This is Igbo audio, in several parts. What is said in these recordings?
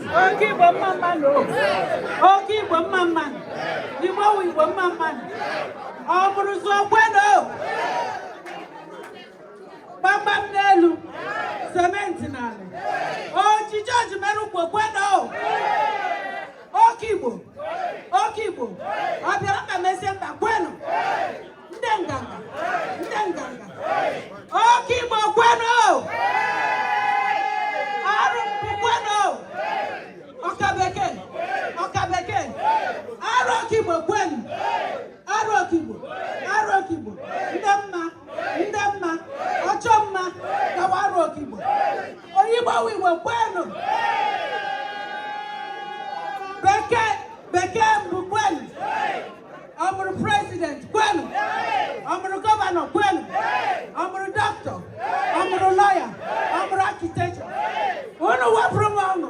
oke igbo mma mmanụ oke igbo mma mmanụ igbo wụ igbo mma mmanụ o buru ụzọ kwenu gbamgbam n'elu sementi n'ala ojiji ojimere ukwu kwenu oke igbo oke igbo ọ bịara mba mezie mba kwenu ndị nganga ndị nganga oke igbo kwenu arọ mbụ kwenu ọka bekee ọka bekee arọ oke igbo kwenu arọ oke igbo arọ oke igbo ndị mma ndị mma ọchọ mma gawa arọ oke igbo onye igbo wụ igbo kwenu ọ bụrụ prezident kwenu ọ bụrụ gọvanọ kwenu ọ bụrụ dọkịta ọ bụrụ lọya ọ bụrụ architecture unu wepụrụ m ọnụ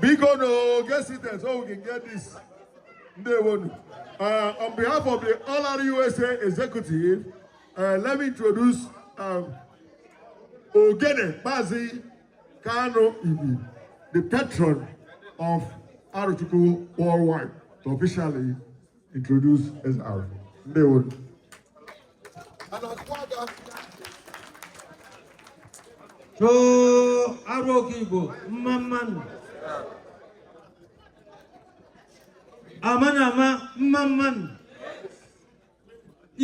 biko na oge sites owu gị get this ndewonu uh, on behalf of the All Aro USA executive uh, let me introduce um, Ogene Mazi Kanu Ivi the patron of Arochukwu worldwide to officially introduce Eze Aro. Ndewonu Choo Arọ oke Igbo mma mmanụ ama na ama mma mmanụ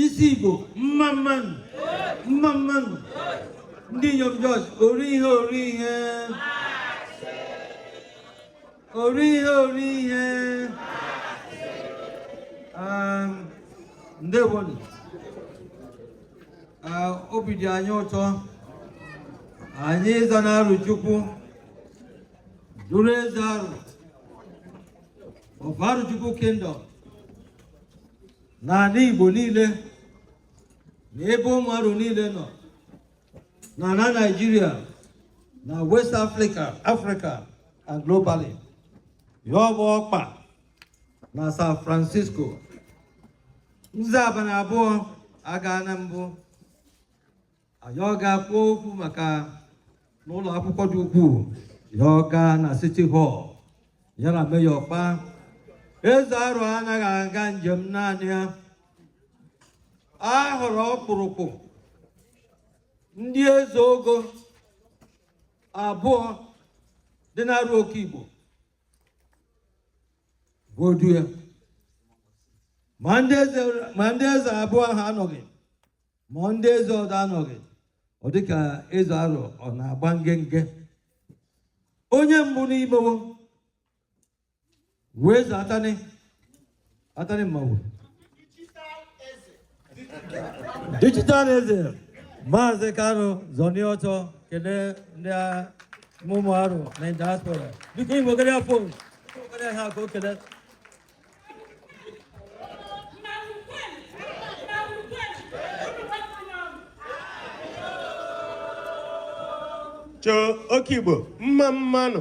isi Igbo mma mmanụ mma mmanụ ndị inyom joo ori ihe ori ihe ori ihe ori ihe um, ndewonu uh, obi dị anyị ụtọ anyị ịza na arọchukwu duru eze arọ of arọchukwu kingdom n'ala igbo niile na ebe ụmụ arọ niile nọ na na Nigeria na West Africa Africa and globally ya ọ bụ ọkpa na San Francisco nze abalị abụọ aga na mbụ anyị ọ ga-akpọ okwu maka n'ụlọ akwụkwọ dị ukwuu ya ọ gaa na City Hall ya na mayor kpaa eze arọ anaghị aga njem naanị ya a hụrụ ọkpụrụkpụ ndị eze ogo abụọ dị n'arụ oke igbo bụ odu ya ma ndị eze ma ndị eze abụọ ahụ anọghị ma ndị eze ọdọ anọghị ọ dịka eze arụ ọ na-agba ngenge onye mbụ n'ime wo wụ eze atanị atanị mmawuru dijital eze maazị kanụ zọni ọ chọ kelee ndị ụmụ arụ na diaspora biko igbo gere ya fon gere ha ka o kelee choo oke igbo mma mmanụ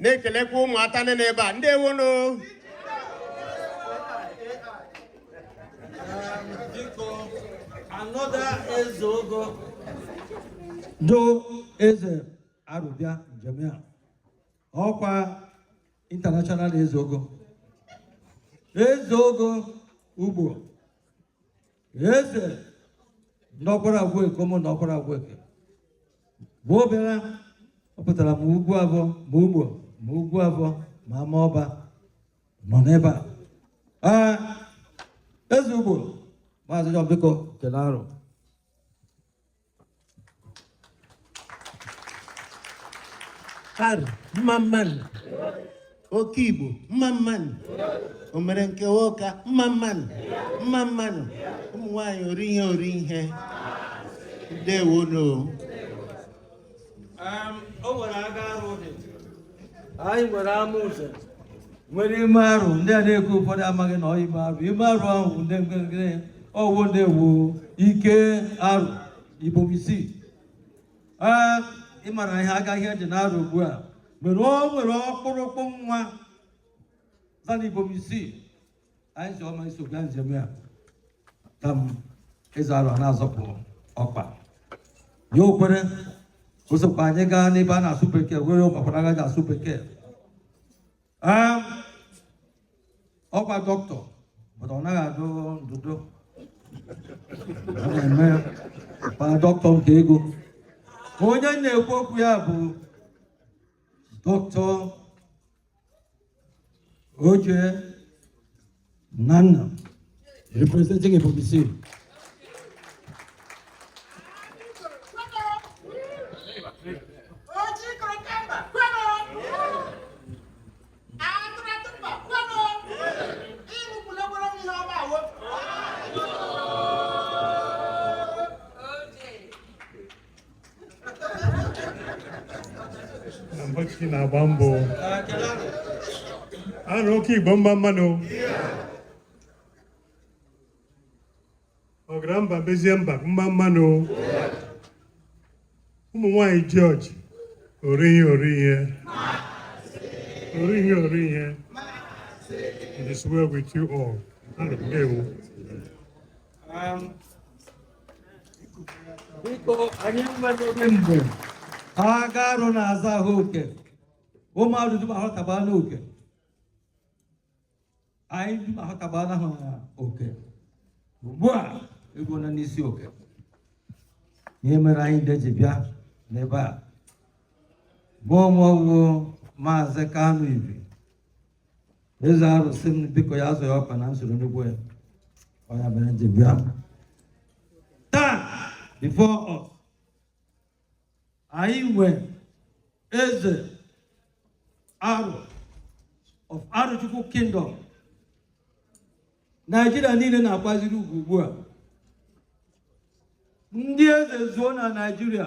na-ekelekwa ụmụ atanị n'ebe a ndewonu another eze ogo do eze arụ bịa njem ya ọkwa international eze ogo eze ogo ugbo eze n'ọkwara agwụ eke ụmụnna ọkwara agwụ eke bụ obere ọ pụtara ma ugwuavọ ma ugbo ma ugwuavọ ma ama ọba nọ n'ebe a ee eze ugbo maazị John biko kele arụ arụ mma mmanụ oke igbo mma mmanụ o mere nke nwoke mma mmanụ mma mmanụ ụmụ nwanyị ori ihe ori ihe ndewonu o nwere aga arụ dị anyị nwere amụze nwere ime arụ ndị a na-ekwu ụfọdụ amaghị na ọ ime arụ ime arụ ahụ ndị nwere ya ọ wụ ndị wụ ike arụ ibom isii ee ị mara ihe aga ihe dị n'arụ ugbu a mere o nwere ọkpụrụkpụ nwadiana ibom isii anyị sị ọ ma-eso gaa njem ya ka m eze arụ na-azọpụ ọkpa ya o kwere o sokwa anyị gaa n'ebe a na-asụ bekee were ọkpakwa agaghị asụ bekee Ee, ọkwa doctor mana ọ naghị adụ ndụdụ Ọ na-eme ma doctor nke ego onye na-ekwu okwu ya bụ doctor Oje Nana, representing Ebonyi State. Mbochi na-agba mbọ arụ oke igbo mma mma nụ ọgara mba bezie mba mma mma nụ ụmụ nwanyị jọji orihi orihe orihi orihe it is well with you all. Ana m ewu. Um, biko anyị nwere oge mgbe aga arụ na-aza aha oke ụmụ arụ dum ahọtaba n'oke anyị dum ahọtaba na aha oke ugbu a egwu na n'isi oke ihe mere anyị ndị ji bịa n'ebe a mụ onwe wu maazị kanu ibi eze arụ sị m biko ya azụ ya ọkpa na nsoro ọnụ okwu ya ọ ya mere m ji bịa taa before anyị nwee eze arụ of Arụchukwu kingdom Naijiria niile na-akwaziri ugwu ugbu a ndị eze zuo na Naijiria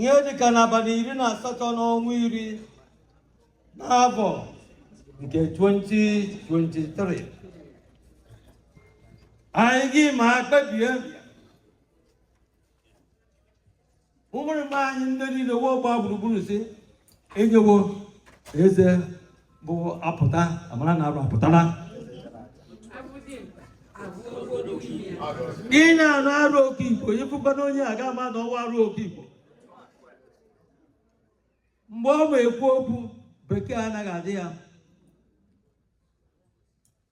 ihe dịka n'abalị iri na asatọ n'ọnwa iri n'afọ nke 2023 anyị gị ma kpebie ụmụ arụ ma anyị ndị niile wee gbaa gburugburu sị e nyewo eze bụ apụta a mara na arụ apụtala ị na-anụ arụ oke igbo ị fụkwana onye a ga-ama na ọ wụ arụ oke igbo mgbe ọ ma ekwu okwu bekee anaghị adị ya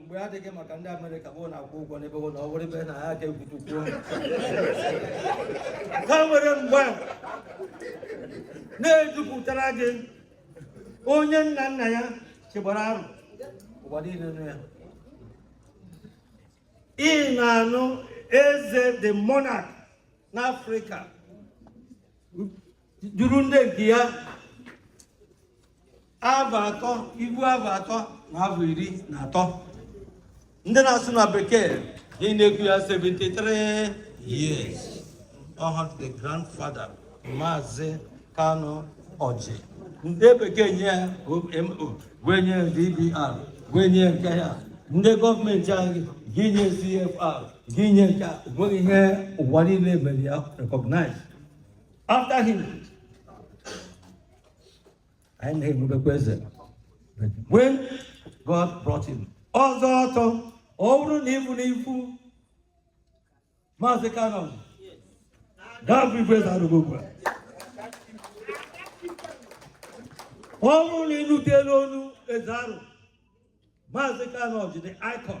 mgbe adịghị maka ndị amerịka bụ na-akwụ ụgwọ n'ebe na ọ were ebe na ha ka egwutukwuo ha nwere mgbe na-ejupụtara gị onye nna nna ya chịgbara arụ ụwa niile nụ ya ị na-anụ eze the monarch n'afrịka juru ndị nke ya avọ atọ ohu avọ atọ na avọ iri na atọ ndị na-asụ na bekee ị na-ekwu ya 73 years ọ wụ the grandfather maazị kanu ọjị ndị bekee nye ya omo wee nye dbr wee nye nke ya ndị gọọmenti anyị gị nye cfr gị nye nke a nweghị ihe ụwa niile mere ya recognize after him anyị na-enwebekwa eze when God brought him ọzọ ọtọ ọ bụrụ na ịbụ na ifu maazị Kanu Ọjị ga-abụ ifu eze Arụ ugbu a ọ bụrụ na ịnụtela onu eze Arụ maazị Kanu Ọjị the icon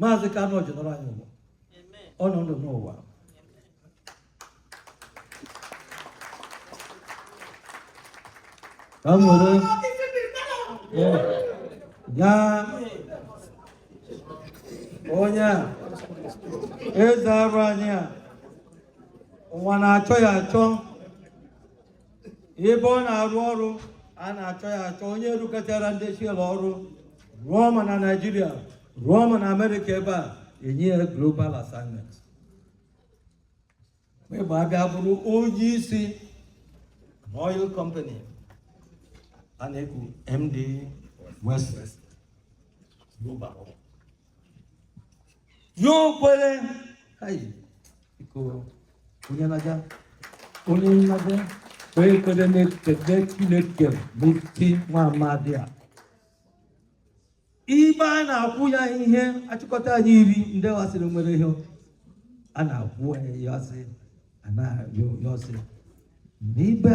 maazị Kanu Ọjị nọrọ anyị ụwa ọ nọ ndụ n'ụwa ka m were ya onye a eze Arụ anyị a ụwa na-achọ ya achọ ebe ọ na-arụ ọrụ a na-achọ ya achọ onye rụkọtara ndị Shell ọrụ rụọ ma na Naịjirịa rụọ ma na Amerịka ebe e nye ya global assignment mgbe abịa bụrụ onye isi oil company a na-eku ND Western Global ya o kwere onye na-aga onye nnabe onye kwere na-ekele Chineke n'isi nwa amadi a ibe a na-akwụ ya ihe achịkọta anyị iri ndị wasịrị nwere ihe a na-akwụ ya ọsị a na-arịọ ya ọsị n'ibe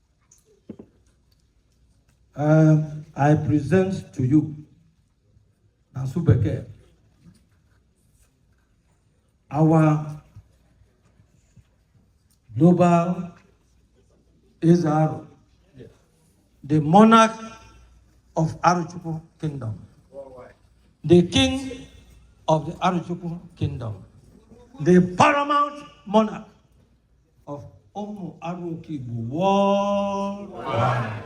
Um, I present to you na Subeke our global is Aru, the monarch of Aruchuku kingdom, the king of the Aruchuku kingdom, the paramount monarch of Omu Aruki worldwide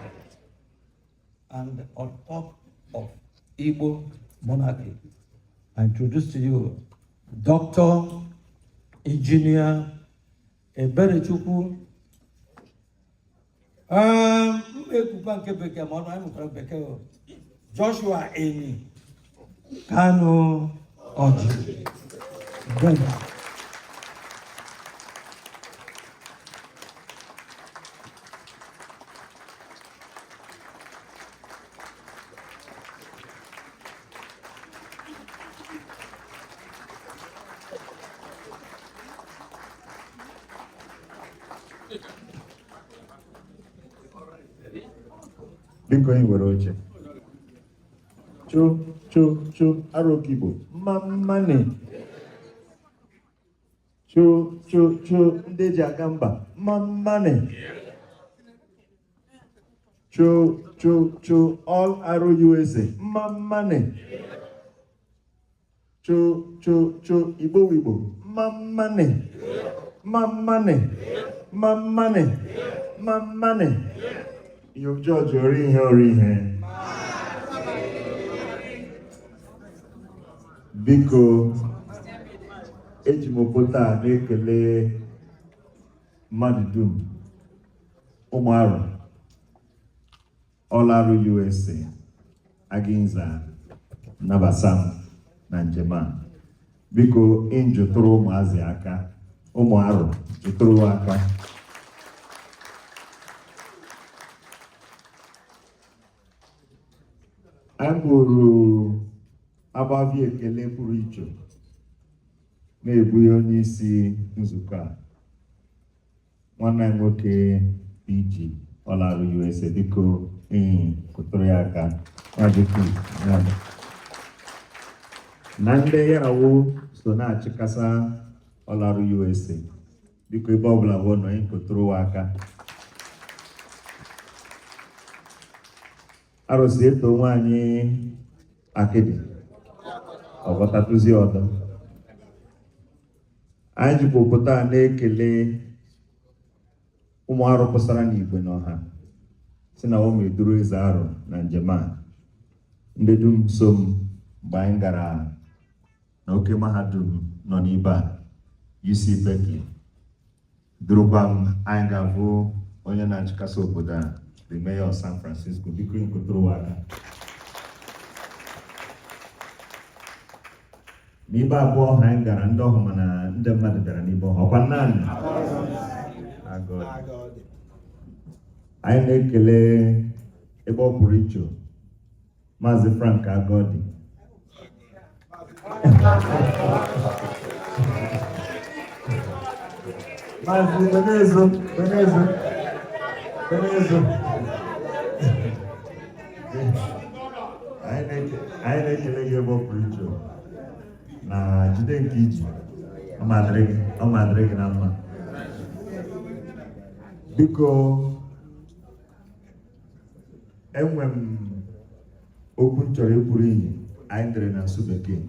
and on top of Igbo monarchy. I introduce to you Dr. Engineer Eberechukwu Ehm, m na-ekwukwa nke bekee ma ọnụ anyị mụtara bekee o. Joshua Eni Kanu Ọjị Brenda. biko anyị nwere oche cho cho cho arokigbo mma mmani cho cho cho ndị ji aga mba mma mmani cho cho cho all arụ usa mma mmani cho cho cho Igbo Igbo mmammanị mmammanị mmammanị mmammanị yo jọji ori ihe ori ihe biko eji m pụta na-ekele mmadụ dum ụmụ Arụ All Arụ USA Aginza nabasa m na njem a biko ịnjụtụrụ ụmụazị aka ụmụ Arụ jụtụrụ aka anyị bụrụ agbavi ekele pụrụ iche na-ebughị onye isi nzukọ a nwanne anyị nwoke ji All Aro USA biko inyi kụtụrụ ya aka na ndị ya na wo so na-achịkasa All Aro USA biko ebe ọbụla wo nọ inyi kụtụrụ wo aka Arụ sị e too nwaanyị akịdị ọ gwọtatụzi ọdọ anyị jikwa obodo a na-ekele ụmụ arụ pụsara n'igwe n'ọha sị na wo ma-eduru eze arụ na njem a ndị dum so m mgbe anyị gara na oke mahadum nọ n'ibe a UC Berkeley Durukwa m, anyị ga-ahụ onye na-achịkasa obodo a, the mayor of San Francisco, biko inyi kụtụrụ wo aka. N'ibe abụọ ọhụ anyị gara ndị ọhụ mana ndị mmadụ bịara n'ibe ọhụ ọkwa naanị anyị na-ekele ebe ọ pụrụ iche Maazị Frank Agodi Maazị Benezo Benezo Benezo anyị na-ekele gị ebe ọ pụrụ iche na jide nke i ji ọ ma-adịrị gị na mma biko enwe m okwu m chọrọ ikwuru inyi anyị dere na asụ bekee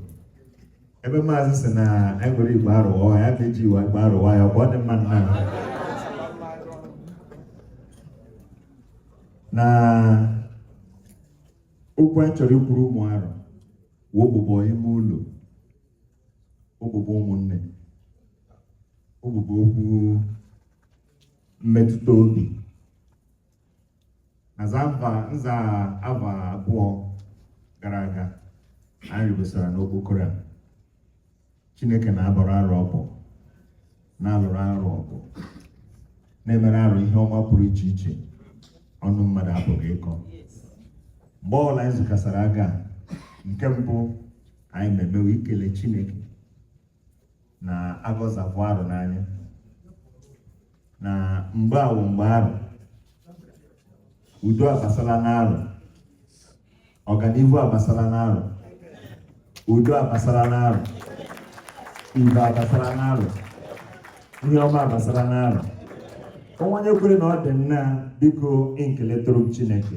ebe maazị sị na anyị were Igbo Arụ wa ya ka e ji we Igbo Arụ wa ya ọgba ọ dị mma nna na okwu anyị chọrọ ikwuru ụmụ arụ wụ ụbụbọ ime ụlọ ụbụbọ ụmụnne ụbụbọ okwu mmetụta obi na nza afọ abụọ gara aga anyị rigosara n'okpokoro a chineke na-abọrọ Arụ ọbọ na-alụrụ Arụ ọgụ na-emere arụ ihe ọma pụrụ iche iche ọnụ mmadụ apụghị ịkọ mgbe ọbụla anyị zukasara aga nke mbụ anyị ma-eme wụ ikele chineke na agọzapụ arụ n'anya na mgbe awụ mgbe arụ udo abasala n'arụ ọganihu abasala n'arụ udo abasala n'arụ ibe abasala n'arụ ihe ọma abasala n'arụ o nwe onye kwere na ọ dị nna biko inyi keletụrụ m Chineke